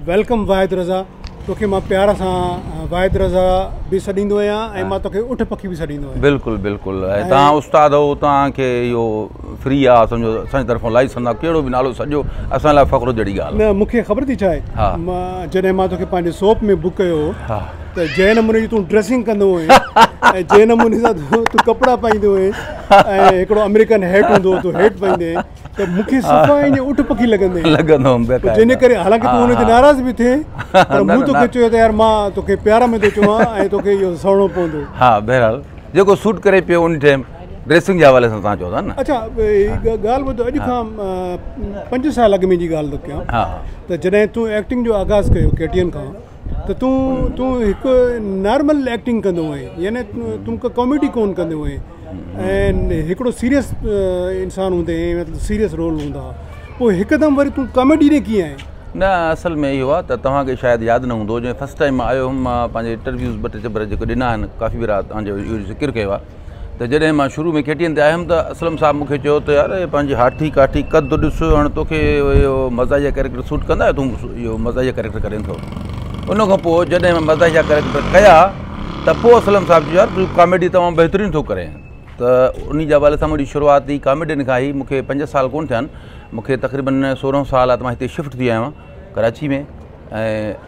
Welcome Wahid Raza توکي مان پيار سان واحد رضا به سڏيندو آهيان ۽ مان توکي اٺ پکي به سڏيندو آهيان بلڪل بلڪل ۽ تان استاد هو تان کي اهو فري آ سمجهو اسان جي طرفون لائسن آ ڪهڙو به نالو سڏجو اسان لاء فخر جهڙي ڳالهه نه مون کي خبر ٿي ڇا آهي مان جڏهن مان توکي پنهنجي سوپ ۾ بڪ ڪيو هو ته جنهن نموني جي تون ڊريسنگ ڪندو هئين ۽ جنهن نموني سان تون ڪپڙا پائيندو هئين ۽ هڪڙو امريڪن هيٽ هوندو هو تون هيٽ پائيندي هئين ته مون کي صفا ائين جيان اٺ پکي لڳندين. لڳندو هوم بي قاعده. جنهن ڪري حالانڪه تون ان تي ناراض به ٿئين پر مون توکي چيو ته يار مان توکي پيار ۾ ٿو چوان ۽ توکي اهو سهڻو پوندو. ها بهرحال جيڪو سوٽ ڪري پيو ان ٽيم ڊريسنگ جي حوالي سان توهان چئو ٿا نه. اڇا هڪ ڳالهه ٻڌ اڄ کان پنج سال اڳ ۾ جي ڳالهه ٿو ڪيان ته جڏهن تون ايڪٽنگ جو آغاز ڪيو ڪي ٽي اين کان ته تون تون هڪ نارمل ايڪٽنگ ڪندو هئين يعني تون ڪا ڪاميڊي ڪون ڪندو هئين ۽ هڪڙو سيريس انسان هوندي هئين مطلب سيريس رول هوندا هئا پوء هڪدم وري تون ڪاميڊي ڏي ڪيئن آئين نه اصل ۾ اهو آهي ته توهان کي شايد ياد نه هوندو جڏهن فرسٽ ٽائيم آيو هيم مان پنهنجي انٽرويوز ٻه ٽي چيمبر جيڪي ڏنا آهن ڪافي ڀيرا توهان جو اهو ذڪر ڪيو آهي ته جڏهن مان شروع ۾ KTN تي آيم ته اسلم صاحب مونکي چيو ته يار اهي پنهنجي هاٺي ڪاٺي قد ڏس هاڻ توکي اهو مزاحيه ڪريڪٽر سوٽ ڪندا تون اهو مزاحيه ڪريڪٽر ڪرين ٿو ان کان پوء جڏهن مان مزاحيه ڪريڪٽر ڪيا ته پوء اسلم صاحب چيو يار تون ڪاميڊي تمام بهترين ٿو ڪرين ته ان جي حوالي سان منهنجي شروعات ئي ڪاميڊين کان هئي مونکي پنج سال ڪون ٿيا آهن مونکي تقريبن سورهن سال آهي ته مان هتي شفٽ ٿي آهيان ڪراچي ۾ ۽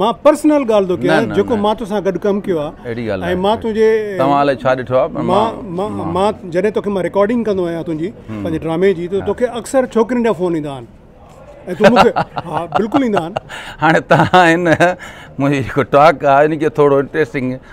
مان پرسنل ڳالهه ٿو ڪيان جيڪو مان توسان گڏ ڪم ڪيو آ ۽ مان تنهنجي توهان الائي ڇا ڏٺو آ پر مان مان جڏهن توکي مان رڪارڊنگ ڪندو آهيان تنهنجي پنهنجي ڊرامي جي ته توکي اڪثر ڇوڪرين جا فون ايندا آهن ۽ تون مونکي ها بلڪل ايندا آهن هاڻي توهان هن منهنجي جيڪو ٽاڪ آ ان کي ٿورو انٽريسٽنگ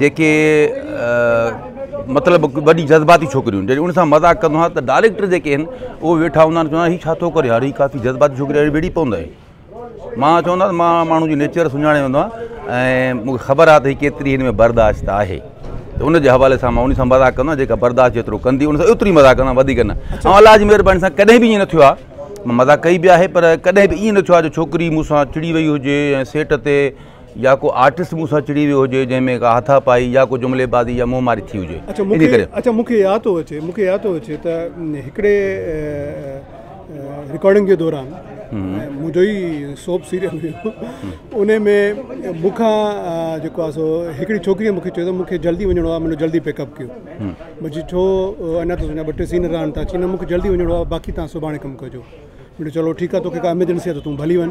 جيڪي مطلب وڏي جذباتي ڇوڪريون جڏهن ان سان مذاق ڪندو آهيان ته ڊائريڪٽر جيڪي آهن اهو ويٺا هوندا آهن چوندا آهن هي ڇا ٿو ڪري يار هي ڪافي جذباتي ڇوڪري آهي ويڙهي پوندو آهي مان چوندا آهن مان ماڻهو جي نيچر سڃاڻي ويندو آهيان ۽ مونکي خبر آهي ته هي ڪيتري هن ۾ برداشت آهي ته ان جي حوالي سان مان ان سان مذاق ڪندو آهيان جيڪا برداشت جيترو ڪندي ان سان ايتري مذاق ڪندو آهيان وڌيڪ نه ۽ الله جي مهرباني سان ڪڏهن به ائين نه ٿيو آهي مذاق ڪئي به آهي پر ڪڏهن به ائين نه ٿيو آهي جو ڇوڪري مون سان چڙي وئي هجي ۽ سيٽ تي يا ڪو آرٽسٽ مون سان چڙي ويو هجي جنهن ۾ ڪا هٿا پائي يا ڪو جملي بازي يا منهن ماري ٿي هجي ان ڪري. اچا مون کي ياد ٿو اچي مون کي ياد ٿو اچي ته هڪڙي رڪارڊنگ جي دوران منهنجو ئي سوپ سيريل هيو ان ۾ مون کان جيڪو آهي سو هڪڙي ڇوڪريء مون کي چيو ته مون کي جلدي وڃڻو آهي منهنجو جلدي پيڪ اپ ڪيو مون چيو ڇو اڃا ته تنهنجا ٻه ٽي سين رهن ٿا چي نه مون کي جلدي وڃڻو آهي باقي تان سڀاڻي ڪم ڪجو مون چيو چلو ٺيڪ آهي توکي ڪا ايمرجنسي آهي ته تون ڀلي وڃ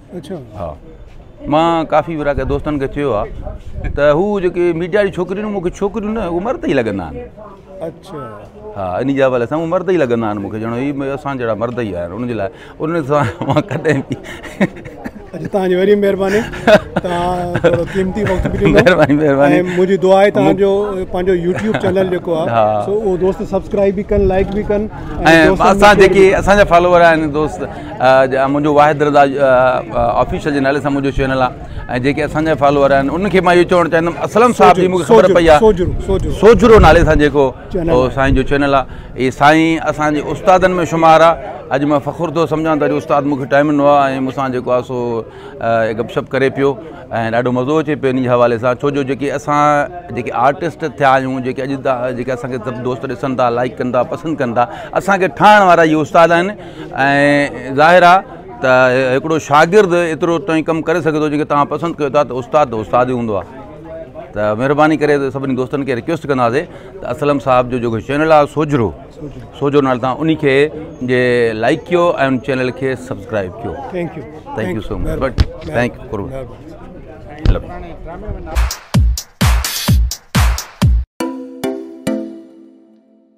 اڇا ها مان ڪافي ورا ڪي دوستن کي چيو آ ته هو جيڪي ميڊيا جي ڇوڪريون مون کي ڇوڪريون نه عمر تي لڳندا آهن اڇا ها ان جي حوالي سان عمر تي لڳندا آهن مون کي ڄڻ هي اسان جهڙا مرد ئي آهن ان جي لاء ان سان مان ڪڏهن به اڄ تان جي وري مهرباني تان ٿورو قيمتي وقت به ڏنو مهرباني مهرباني ۽ منهنجي دعا آهي تان جو پنهنجو يوٽيوب چينل جيڪو آهي سو او دوست سبسڪرائب به ڪن لائڪ به ڪن ۽ اسان جيڪي اسان جا فالوور آهن دوست منهنجو واحد رضا آفيشل جي نالي سان منهنجو چينل آ ۽ جيڪي اسان جا فالوور آهن ان کي مان اهو چوڻ چاهيندم اسلم صاحب جي مونکي خبر پئي آ سوجھرو نالي سان جيڪو سائين جو چينل آ اهي سائين اسان جي استادن ۾ شمار آ اڄ مان فخر ٿو سمجھان ته اڄ استاد مونکي ٽائيم ڏنو آ ۽ مون سان جيڪو آ سو گپ شپ ڪري پيو ۽ ڏاڍو مزو اچي پيو ان جي حوالي سان ڇو جو جيڪي اسان جيڪي آرٽسٽ ٿيا آهيون جيڪي اڄ جيڪي اسان کي سڀ دوست ڏسن ٿا لائڪ ڪن ٿا پسند ڪن ٿا اسان کي ٺاهڻ وارا اهي استاد آهن ۽ ظاهر آ ته هڪڙو شاگرد ايترو تائين ڪم ڪري سگهي ٿو جيڪي توهان پسند ڪيو ٿا ته استاد ته استاد ئي هوندو آ ته مهرباني ڪري سڀني دوستن کي رڪويسٽ ڪنداسي ته اسلم صاحب جو جيڪو چينل آ سوجهرو سوجهرو نالي تان انهي کي جي لائڪ ڪيو ۽ ان چينل کي سبسڪرائب ڪيو thank you thank you so much thank U